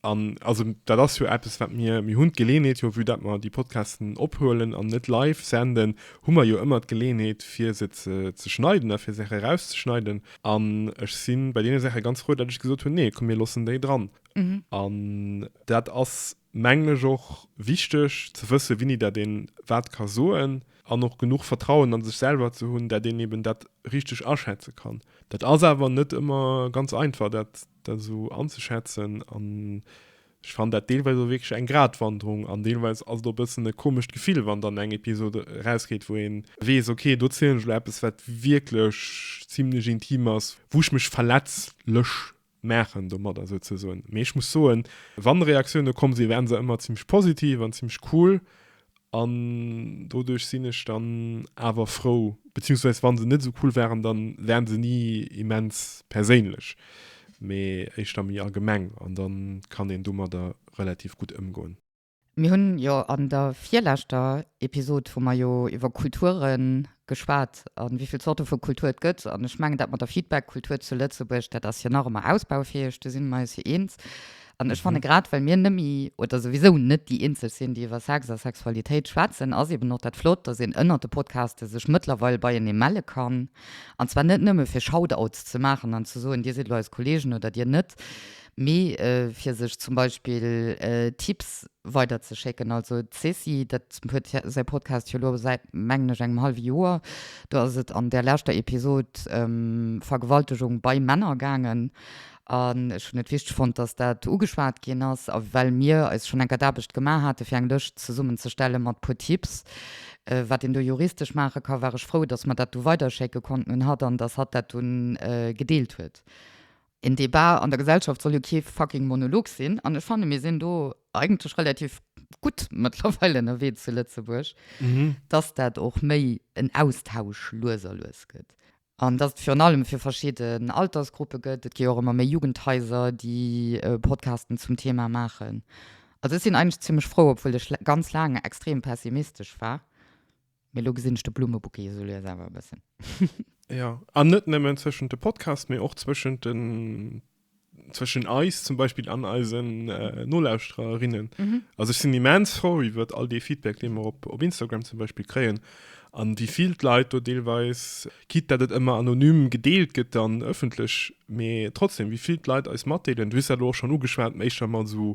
An also dat ass jo eppes, wat mir, mir hunn d'Geleeënheet jo, vue datt mer déi Podcasten ophuelen an net live senden, hu mer jo ëmmer d'Geleeënheet, fir se ze schneiden a fir Saache erauszeschneiden. An ech si bei deene Saache ganz frou, datt ech gesot hunn, nee, komm, mir loossen déi dran. An dat ass mengen ech och wichteg ze wëssen, wéini dat een wat ka soen an och genuch Vertrauen a sech selwer ze hunn, dat een eben dat richteg aschätze kann. Dat ass awer net ëmmer ganz einfach, dat esou anzeschätzen an ech fannen dat deelweis och wierklech eng Gratwanderung an deelweis ass et och e bëssen e komescht Gefill, wann dann eng Episod erausgeet, wou ee weess, ok, do zielen ech elo eppes, wat wierklech zimlech intim ass, wou ech mech verletzlech maachen domadder souzesoen. Mee ech muss soen, wann Reaktioune komm sinn, waren se ëmmer zimmlech positiv an zimmlech cool an doduerch sinn ech dann awer frou, beziehungsweise wann se net esou cool waren, dann waren se ni immens perséinlech, mee éischter méi allgemeng an dann kann een domadder relativ gutt ëmgoen. Mir hunn jo an der virleschter Episod hu mer jo iwwer Kulture geschwat a wéi vill Zorte vu Kultur et gëtt. An ech mengen, dat mat der Feedback-Kultur zu Lëtzebuerg, dat ass jo nach ëmmer ausbaufäeg, do si mer eis jo eens. An ech fanne grad, well mir nëmme oder souwisou net déi eenzeg sinn, déi iwwer Sex a Sexualitéit schwätzen, ass eeben och dat flott, dass een ënnert de Podcaste sech mëttlerweil beienee melle kann. An zwar net nëmme fir Shoutouts ze maachen an ze soen, Dir sidd lo eis Kolleegen oder Dir net, mee fir sech zum Beispill Tipps weider ze schécken. Also d'Cécile, dat huet säi Podcast jo elo säit mengen ech engem hallwe Joer, do ass et an där leschter Episode ëm Vergewaltegung bei Männer gaangen an ech hunn et wichteg fonnt, dass dat ugeschwat ginn ass a well mir eis schonn enker d'Aarbecht gemaach hate fir eng Lëscht zesummen ze stelle mat puer Tipps wat een do juristesch maache ka, war ech frou, dass mer dat du weiderschécke konnten un hatt an dass hatt dat dunn gedeelt huet. Een Debat an der Gesellschaft soll jo kee fucking Monolog sinn. An ech fanne mir sinn do eigentlech relativ gutt mëttlerweil ënnerwee zu Lëtzebuerg, dass dat och méi en Austausch lues a lues gëtt an dass et virun allem fir verschidden Altersgruppe gëtt. Et gi jo och ëmmer méi Jugendhaiser, déi Podcasten zum Thema maachen. Also ech sinn eigentlech zimmlech frou, obwuel ech ganz laang extrem pessimistesch war. Mee lo gesinn ech de Blummebouquet esou lues awer e bëssen. Ja, an net nëmmen zwëschent de Podcast, mee och zwëschent den, zwëschen eis zum Beispill an eisen äh, Nolauschtererinnen. Mhm. Also ich sinn immens froh iwwer all dee Feedback, dee mer op, op Instagram zum Beispill kréien. An wie vill d'Leit do deelweis, quitte dat et ëmmer anonym gedeelt gëtt dann ëffentlech, mee trotzdem, wie vill d'Leit eis matdeelen, du hues dat elo och schon ugeschwat, éischter mat esou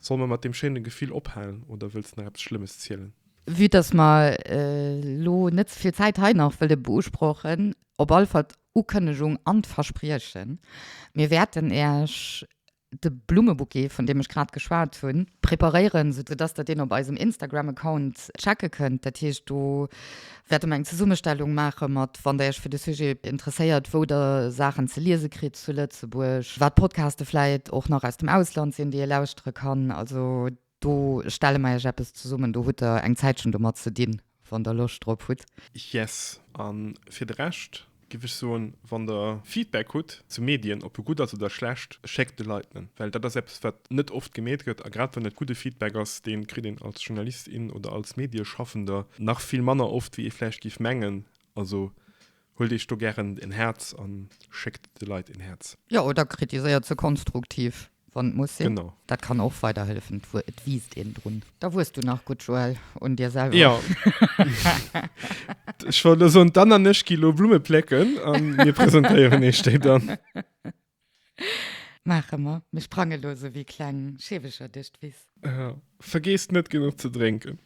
Solle mer mat deem schéine Gefill ophalen oder wëlls de nach eppes Schlëmmes zielen? Vue dass mer elo net ze vill Zäit hei nach wëlle beusprochen, op alle Fall d'Ukënnegung an d'Verspriechen, Mir wäerten Iech de Blummebouquet, vun deem ech grad geschwat hunn, preparéieren, soudatt Der deen op eisem Instagram-Account checke kënnt. Dat heescht, do Wäerte mer eng Zesummestellung maache mat, wann Der Iech fir de Sujet interesséiert, wou Der Saachen ze liese kritt zu Lëtzebuerg, wat Podcaste vläit och nach aus dem Ausland sinn, déi ee lauschtere kann. Also do stelle mer Iech eppes zesummen. Do hutt Der eng Zäitchen domat ze dinn, wann Der Loscht drop hutt. Yes. A fir de Rescht Giff ech soen, wann der Feedback hutt zu Medien, ob e gutt ass oder schlecht, schéckt de Leit en, well dat ass eppes wat net oft gemeet gëtt, a grad wann et gudde Feedback ass, deen kritt een als Journalist, in oder als Medieschaffender nach vill manner oft wéi ee vläicht giff mengen, also huelt iech do gären en Häerz an schéckt de Leit en Häerz. Jo, oder kritiséiert se konstruktiv, Wann et muss sinn. Genau. Dat kann och weiderhëllefen, et wiisst een drun. Da wues du nach gutt, Joël, un dir selwer. Jo. Ech wollt elo soen, d'Anne an ech gi elo Blumme plécken a mir presentéieren iech déi dann. Maache mer. Mir sprange elo esou wéi kleng Scheeweger duerch d'Wiss. Vergiesst net genuch ze drénken.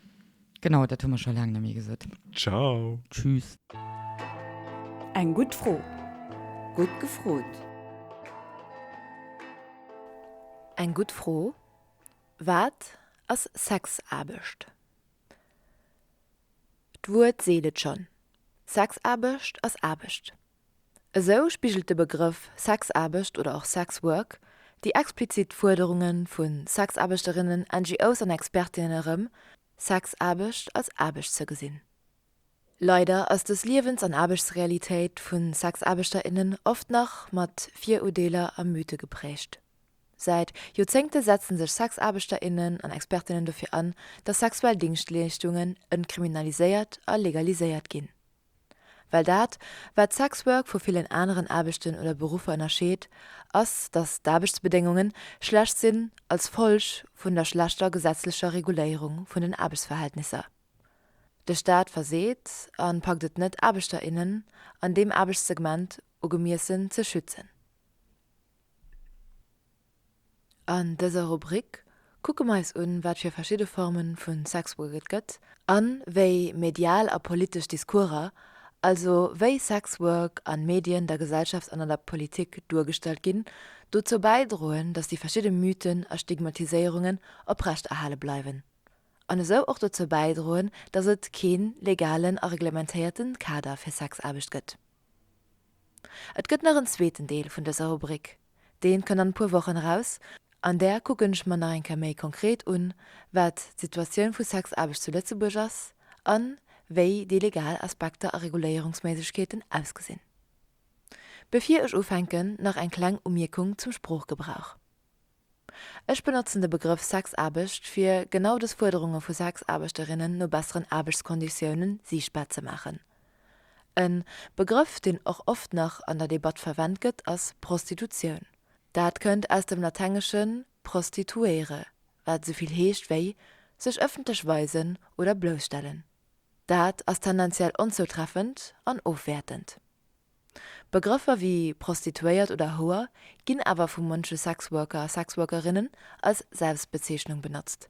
Genau, dat hu mer scho laang net méi gesot. Ciao. Tschüss. Eng gutt Fro, gutt gefrot. Eng gutt Fro, Wat ass Sexaarbecht? D'Wuert seet et schonn, Sexaarbecht ass Aarbecht. Esou spigelt de Begrëff Sexaarbecht oder och Sex Work déi explizit Fuerderunge vu Sexaarbechterinnen, NGOs an Expertinnen erëm, Sexaarbecht als Aarbecht ze gesinn. Leider ass dës Liewens an Aarbechtsrealitéit vu Sexaarbechter, innen oft nach mat Virudeeler a Mythe geprägt. Säit Joerzéngte setzen sech Sexaarbechter, innen an Expertinnen dofir an, datt sexuell Dingschtleeschtungen entkriminaliséiert a legaliséiert ginn. Well dat, wat d'Sexwork vu villen aneren Aarbechten oder Beruffer ënnerscheet, ass, datt d'Aarbechtsbedéngunge schlecht sinn als Folg vun der schlechter gesetzlecher Reguléierung vun den Aarbechtsverhältnisser. De Staat verseet a packt et net, Aarbechter, innen an deem Aarbechtssegment ugemiessen ze schützen. An dëser Rubrik kucke mer eis un, wat fir verschidde Forme vu Sexwork et gëtt a wéi medial a politesch Discourser, also wéi Sexwork an Medien, der Gesellschaft an an der Politik duergestallt ginn, dozou bäidroen, datt déi verschidde Mythen a Stigmatiséierungen oprechterhale bleiwen an esou och dozou bäidroen, datt et kee legalen a reglementéierte Kader fir Sexaarbecht gëtt. Et gëtt nach en zweeten Deel vun dëser Rubrik. Deen kënn an e puer Wochen eraus. An där kucken ech mer nach eng Kéier méi konkret un, wat d'Situatioun vu Sexaarbecht zu Lëtzebuerg ass an wéi déi legal Aspekter a Reguléierungsméiglechkeeten ausgesinn. Bevir ech ufänken, nach eng kleng Umierkung zum Sproochgebrauch. Ech benotzen de Begrëff Sexaarbecht fir genau des Fuerderunge vu Sexaarbechterinnen no besseren Aarbechtskonditioune siichtbar ze maachen. E Begrëff deen och oft nach an der Debatt verwent gëtt ass Prostitutioun. Dat kënnt aus dem Latenglische prostituere wat esou vill heescht wéi sech ëffentlech weisen oder bloussstellen. Dat ass tendenziell onzoutreffend an ofwäertend. Begrëffer wéi Prostituéiert oder Houer ginn awer vu munche Sexworker a Sexworkerinnen als Selbstbezeechnung benotzt,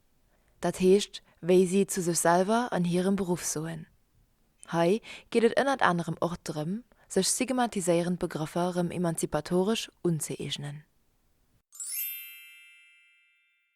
dat heescht wéi si zu sech selwer an hirem Beruff soen. Hei geet et ënnert anerem och drëm, sech stigmatiséierend Begrëffer rëm emanzipatoresch unzëeegnen.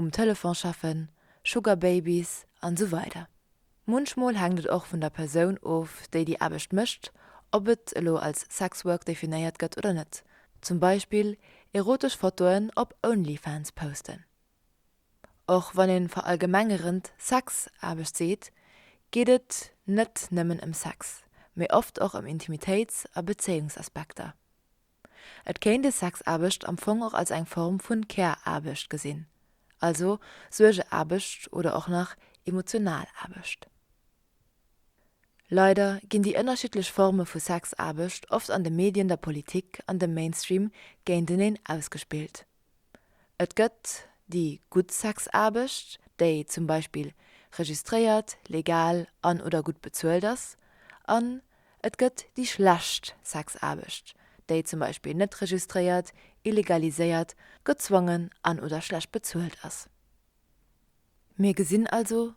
um Telefon schaffen, Sugar Babys an esou weider. Munchmol hänkt et och vun der Persoun of, déi déi Aarbecht mécht, ob et elo als Sex Work definéiert gëtt oder net, zum Beispill erotesch Fotoen op Onlyfans posten. Och wann ee verallgemengerend Sex-Aarbecht seet, geet et net nëmmen ëm Sex, mee oft och ëm Intimitéits a Bezéiungsaspekter. Et kéint ee Sexaarbecht am Fong och als eng Form vun Care-Aarbecht gesinn, also Suergeaarbecht oder och nach emotional Aarbecht. Leider ginn déi ënnerschiddlech Forme vu Sexaarbecht oft an de Medien, der Politik an dem Mainstream géinteneen ausgespillt. Et gëtt déi gutt Sexaarbecht, déi zum Beispill registréiert, legal an, oder gutt bezuelt ass, an et gëtt déi schlecht Sexaarbecht, déi zum Beispill net registréiert, illegaliséiert, gezwongen an, oder schlecht bezuelt ass. Mir gesinn also,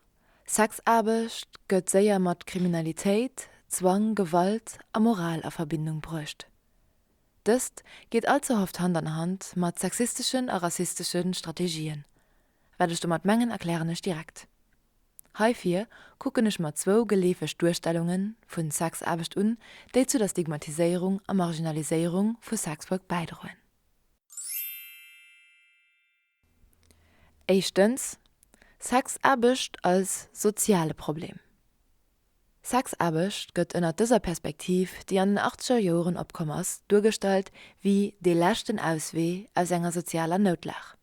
Sexaarbecht gëtt séier mat Kriminalitéit, Zwang, Gewalt a Moral a Verbindung bruecht. Dëst geet allze oft Hand an Hand mat sexisteschen a rassistesche Strategien. Wat ech domat mengen, erklären ech direkt. Heifir kucken ech mer zwou geleefeg Duerstellunge vu Sexaarbecht un, déi zu der Stigmatiséierung a Marginaliséierung vu Sexwork bäidroen. Éischtens, Sexaarbecht als soziale Problem. Sexaarbecht gëtt ënnert dëser Perspektiv, déi an den achtzeger Joren opkomm ass, duergestallt wéi dee leschten Auswee aus enger sozialer Noutlag,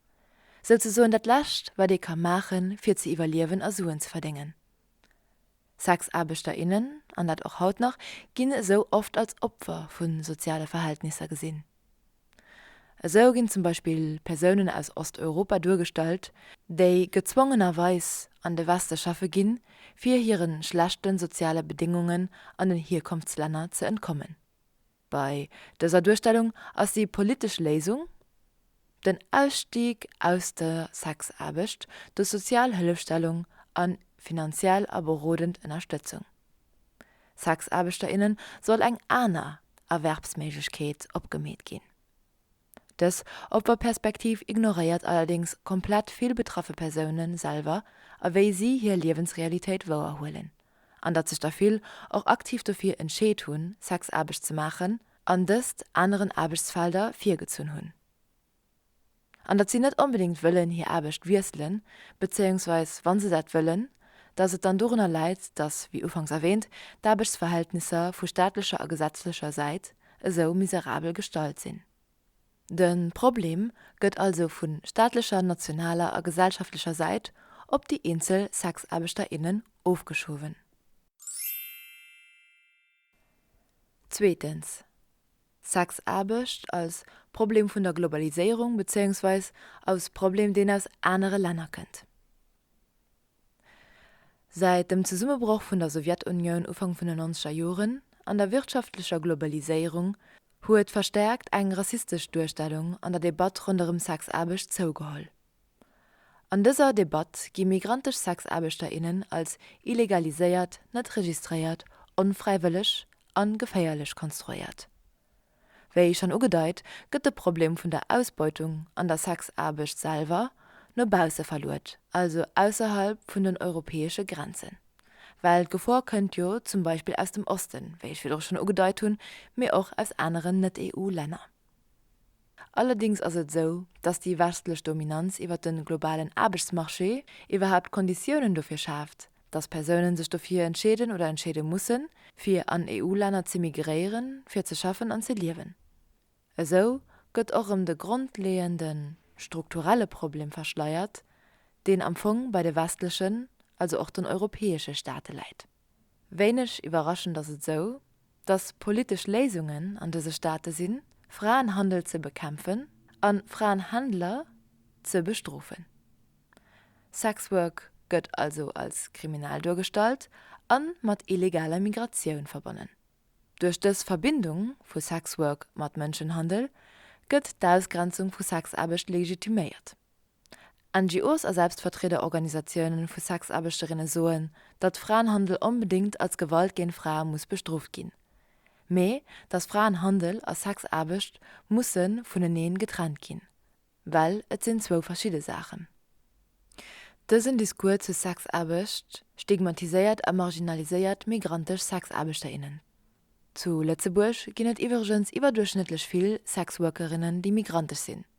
souzesoen dat Lescht, wat ee ka maachen, fir ze iwwerliewen a Suen ze verdéngen. Sexaarbechter, innen, an dat och haut nach, ginn esou oft als Opfer vu soziale Verhältnisser gesinn. Esou ginn zum Beispill Persounen aus Osteuropa duergestallt, déi gezwongenerweis an de Weste schaffe ginn, fir hire schlechte soziale Bedéngungen an den Hierkonftslänner ze entkommen. Bei dëser Duerstellung ass déi politesch Léisung den Ausstieg aus der Sexaarbecht duerch sozial Hëllefstellung a finanziell a berodend Ënnerstëtzung. Sexaarbechter, inne soll eng aner Erwerbsméiglechkeet opgemeet ginn. Dës opper Perspektiv ignoréiert allerdéngs komplett vill betraffe Persoune selwer a wéi si hir Liewensrealitéit wouer huelen, an datt sech der vill och aktiv dofir entscheet hunn, Sexaarbecht ze maachen an dëst aneren Aarbechtsfelder virgezunn hunn. An datt si net onbedéngt wëllen hir Aarbecht wiesselen, bezéiungsweis wa se dat wëllen, datt et dann dorunner läit, datt, wéi ufanks erwäänt, d'Aarbechtsverhältnisser vu staatlecher a gesetzlecher Säit esou miserabel gestallt sinn. De Problem gëtt also vu staatlecher, nationaler a gesellschaftlecher Säit op déi eenzel Sexaarbechter, innen ofgeschuwen. Zweetens, Sexaarbecht als Problem vun der Globaliséierung, bezéiungsweis als Problem, deen aus anere Länner kënnt. Säit dem Zesummebroch vun der Sowjetunioun Ufank vun den nonzeger Joren an der wirtschaftlecher Globaliséierung huet verstärkt eng rassistesch Duerstellung an der Debatt ronderëm Sexaarbecht zougeholl. An dëser Debatt gi migrantesch Sexaarbechter, innen als illegaliséiert, net registréiert, onfräiwëlleg an geféierlech konstruéiert. Wéi schonn ugedeit, gëtt de Problem vun der Ausbeutung an der Sexaarbecht selwer no bausse verluet, also ausserhalb vun den europäesche Grenzen. Well d'Gefor kënnt jo zum Beispill aus dem Osten, wéi ech virdru schonn ugedeit hunn, mee och aus aneren Net-EU-Länner. Allerdéngs ass et esou, dass déi westlech Dominanz iwwert de globalen Aarbechtsmarché iwwerhaapt d'Konditiounen dofir schaaft, dass Persounen sech dofir entscheeden oder entscheede mussen, fir an EU-Länner z'immigréieren, fir ze schaffen an ze liewen. Esou gëtt och erëm de grondleeënde strukturelle Problem verschleiert, deen am Fong bei de westlechen, also och den europäesche Staate läit. Wéineg iwwerraschend ass et esou, dass politesch Léisungen an dëse Staate sinn, Fraenhandel ze bekämpfen a Fraenhändler ze bestrofen. Sexwork gëtt also als kriminell duergestallt a mat illegaler Migratioun verbonnen. Duerch dës Verbindung vu Sexwork mat Mënschenhandel gëtt d'Ausgrenzung vu Sexaarbecht legitiméiert. NGOs a Selbstvertriederorganisatiounen vu Sexaarbechterinnen soen, datt Fraenhandel onbedéngt als Gewalt géint Frae muss bestrooft ginn, mee datt Fraenhandel a Sexaarbecht musse vuneneen getrennt ginn, well et sinn zwou verschidde Saachen. Dësen Discours zu Sexaarbecht stigmatiséiert a marginaliséiert migrantesch Sexaarbechterinnen. Zu Lëtzebuerg ginn et iwwregens iwwerduerchschnëttlech vill Sexworkerinnen, déi migrantesch sinn.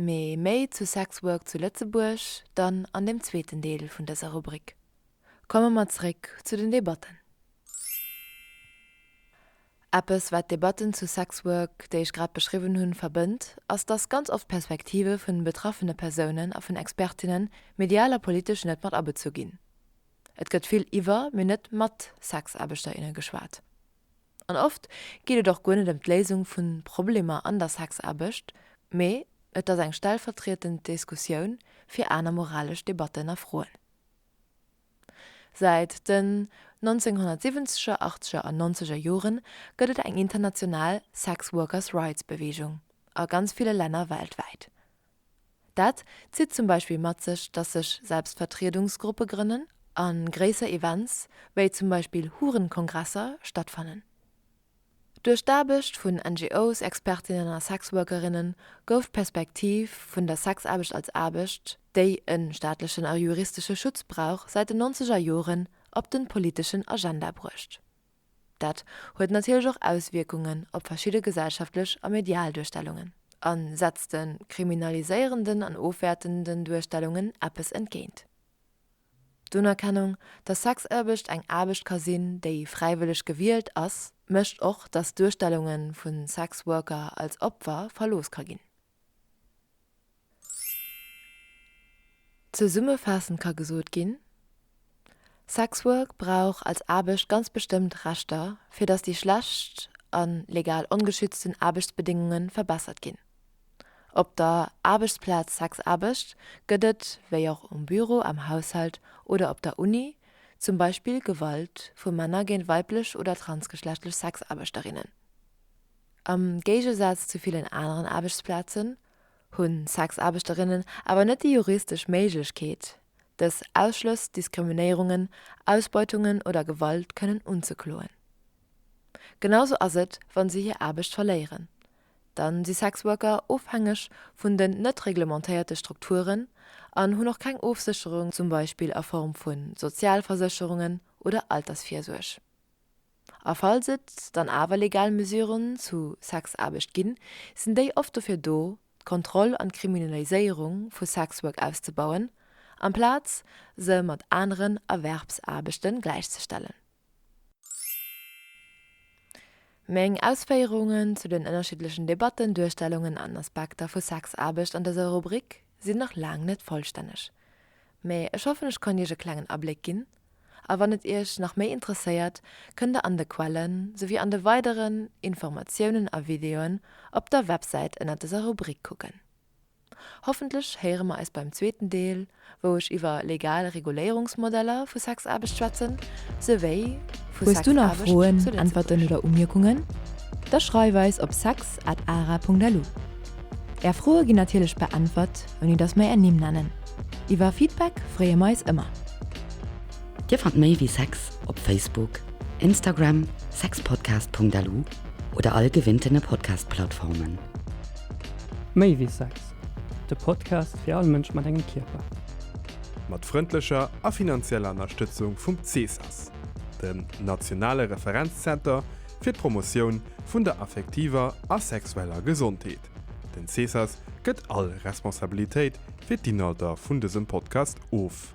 Mee méi zu Sex Work zu Lëtzebuerg dann an dem zweeten Deel vun dëser Rubrik. Komme mer zréck zu den Debatten. Eppes wat d'Debatten zu Sex Work, déi ech grad beschriwwen hunn, verbënnt, ass dass ganz oft d'Perspektive vun den betraffene Persounen a vun Expertinnen, medial a politesch, net mat abezu ginn. Et gëtt vill iwwer, mee net mat Sexaarbechter, inne geschwat. An oft geet et och guer net ëm d'Léisung vu Problemer an der Sexaarbecht, mee et ass eng stellvertrietend Diskussioun fir aner moralesch Debatten a Froen. Säit den 1970er, achtzeger an nonzeger Jore gëtt et eng international Sex Workers Rights Beweegung a ganz ville Länner weltwäit, Dat zitt zum Beispill mat sech, dass sech Selbstvertriedungsgruppe grënnen a gréisser Events, wéi zum Beispill Hurenkongresser, stattfannen. Duerch d'Aarbecht vun NGOs, Expertinnen a Sexworkerinne gouf d'Perspektiv vun der Sexaarbecht als Aarbecht, déi e staatlechen a juristesche Schutz brauch, säit den nonzeger Joren op de politeschen Agenda bruecht. Dat huet natierlech och Auswierkungen op verschidde gesellschaftlech a medial Duerstellungen a setzt de kriminaliséierenden an ofwäertenden Duerstellungen eppes entgéint. D'Unerkennung, datt Sexaarbecht eng Aarbecht ka sinn, déi fräiwëlleg gewielt ass, mécht och, datt d'Duerstellungen vu Sexworker als Opfer verlooss ka ginn. Zesummefaassend ka gesot ginn, Sexwork brauch als Aarbecht ganz bestëmmt Rechter, fir datt déi schlecht a legal ongeschützten Aarbechtsbedéngunge verbessert ginn. Op der Aarbechtsplaz Sexaarbecht gëtt et, wéi och um Büro, am Haushalt oder op der Uni, zum Beispill Gewalt vu Männer géint weiblech oder transgeschlechtlech Sexaarbechterinnen. Am Géigesaz zu villen aneren Aarbechtsplazen hunn Sexaarbechterinnen awer net déi juristesch Méiglechkeet, dës Ausschlëss, Diskriminéierungen, Ausbeutungen oder Gewalt kënnen unzekloen. Genausou ass et, wa se hir Aarbecht verléieren. Da si Sexworker ofhängeg vun den net reglementéierte Strukturen an hunn och keng Ofsécherung, zum Beispill a Form vu Sozialversécherungen oder Altersvirsuerg. A falls et dann awer legal Mesuren zu Sexaarbecht ginn, sinn déi oft dofir do, d'Kontroll an d'Kriminaliséierung vu Sexwork auszebauen, amplaz se mat aneren Erwerbsaarbechte gläichzestellen. Meng Ausféierungen zu den ënnerschiddlechen Debatten, Duerstellungen an Aspekter vu Sexaarbecht an dëser Rubrik sinn nach laang net vollstänneg, mee ech hoffen, ech konnt Iech e klengen Abléck ginn, A wann et Iech nach méi interesséiert, kënnt der an de Quellen souwéi an de weideren Informatiounen a Videoen op der Websäit ënnert dëser Rubrik kucken. Hoffentlech héiere mer eis beim zweeten Deel, wou ech iwwer legal Reguléierungsmodeller vu Sexaarbecht schwätzen, souwéi vu Sexaarbecht zu Lëtzebuerg. Hues du nach Froen, Äntwerten oder Umierkungen? Da schreif eis op sex@ara.lu. Är Froe ginn natierlech beäntwert. ouni dass mer är Nimm nennen. Iwwer Feedback freeë mer eis ëmmer. Dir fannt méi wéi Sex op Facebook, Instagram, sexpodcast.lu oder all gewinnten Podcast-Plattformen. Méi wéi Sex, de Podcast fir all Mënsch mat engem Kierper. Mat frëndlecher a finanzieller Ënnerstëtzung vum CSAS, dem nationale Referenzzenter fir d'Promotioun vun der affektiver a sexueller Gesondheet. Den Cesas gëtt all Responsabilitéit fir d'Inhalter vun dësem Podcast of.